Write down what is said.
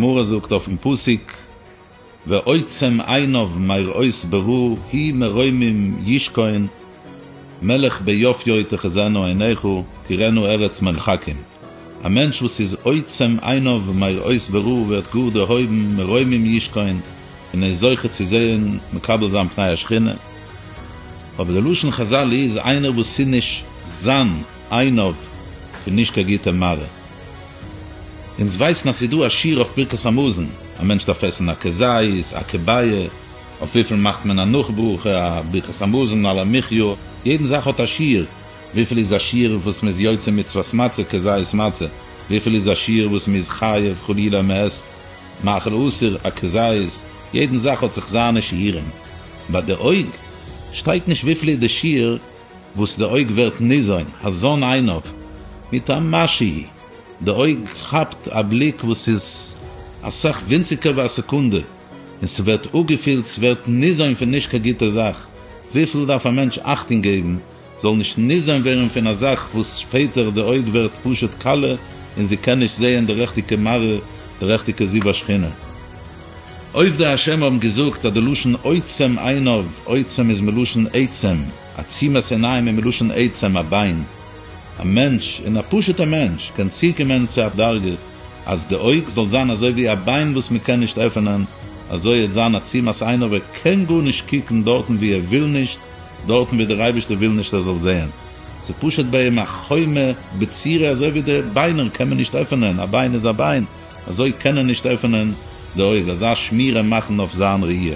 גמרא זאגט אויפן פסוק ועוצם עיניו מראות ברור היא מרומים ישכון מלך ביופיו תחזינה עיניך תראינה ארץ מרחקים, א מענטש וואס איז עוצם עיניו מראות ברור ווערט גאר דערהויבן מרומים ישכון און איז זוכה צו זעהן מקבל זיין פני השכינה, אבער די לשון חזל איז איינער וואס איז נישט זיין עיניו פון נישט קיין גוטע מראה. אונז ווייסן אז ס'איז דא א שיעור אויף ברכת המזון, א מענטש דארף עסן א כזית, א כביה, אויף וויפיל מאכט מען א נאך ברכה, א ברכת המזון, על המחיה, יעדן זאך האט א שיעור, וויפיל איז א שיעור וואס מען איז יוצא מצוות מצה כזית מצה, וויפיל איז א שיעור וואס מען איז חייב חלילה מען עסט מאכל אסור א כזית, יעדן זאך האט זיך זיינע שיעורים, ביי די אויג שטייט נישט וויפיל איז די שיעור וואס די אויג ווערט ניזון, הזון עיניו מיט א מה שיהי', די אויג כאפט א בליק וואס איז אסאך ווינציגער ווי א סעקונדע. און ס'ווערט אפגעפילט, ס'ווערט ניזון פון נישט קיין גוטע זאך, וויפיל דארף א מענטש אכטונג געבן זאל נישט ניזון ווערן פון א זאך וואס שפעטער די אויג ווערט פשוט כלה און זי קען נישט זעהן די רעכטיגע מראה, די רעכטיגע זיו השכינה. עובדי השם האבן געזאגט אז די לשון עוצם עיניו, עוצם איז מלשון עצם, עצימת עיניים איז מלשון עצם, א ביין. א מענטש, און א פשוט'ע מענטש, קען צוקומען צו א דרגה, אז די אויג זאל זיין אזוי ווי א ביין וואס מען קען נישט עפענען, אזוי העט זיין א צום אז איינער וועט קיין גארנישט קוקן דארטן ווי ער וויל נישט, דארטן ווי דער אייבערשטער וויל נישט ער זאל זעהן. ס'פשוט ביי אים א חומה בצירה אזוי ווי די ביינער קען מען נישט עפענען, א ביין איז א ביין, אזוי קען ער נישט עפענען די אויג, אזא שמירה מאכן אויף זיין ראי'.